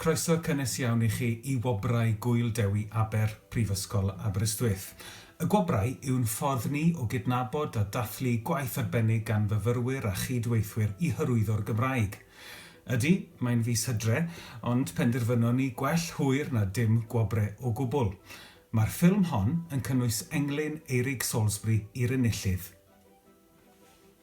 Croeso cynnes iawn i chi i Wobrau Gŵyl Dewi Aber, Prifysgol Aberystwyth. Y Gwobrau yw'n ffordd ni o gydnabod a dathlu gwaith arbennig gan fyfyrwyr a chyd-weithwyr i hyrwyddo'r Gymraeg. Ydy, mae'n fis Hydre, ond penderfynon ni gwell hwyr na dim gwobre o gwbl. Mae'r ffilm hon yn cynnwys englyn Eirig Salisbury i'r enillydd.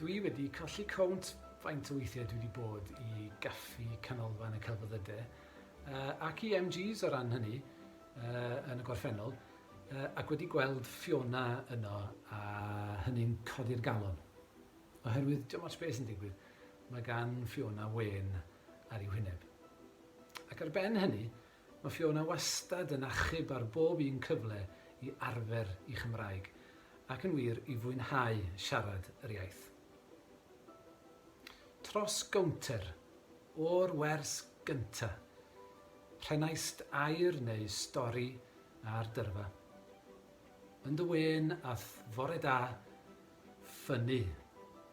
Dwi wedi colli count faint o weithiau dwi wedi bod i gaffi canolfan y celfyddyde uh, ac i MGs o ran hynny uh, yn y gorffennol uh, ac wedi gweld Fiona yno a hynny'n codi'r galon. Oherwydd dim ots beth sy'n digwydd, mae gan Fiona wen ar ei wyneb. Ac ar ben hynny, Mae Fiona wastad yn achub ar bob un cyfle i arfer ei Chymraeg, ac yn wir, i fwynhau siarad yr iaith. Tros gownter, o'r wers gynta', rhenaist air neu stori ar dyrfa. Yn dy wên a fore da, ffynnu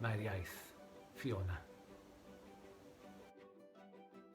mae'r iaith, Fiona.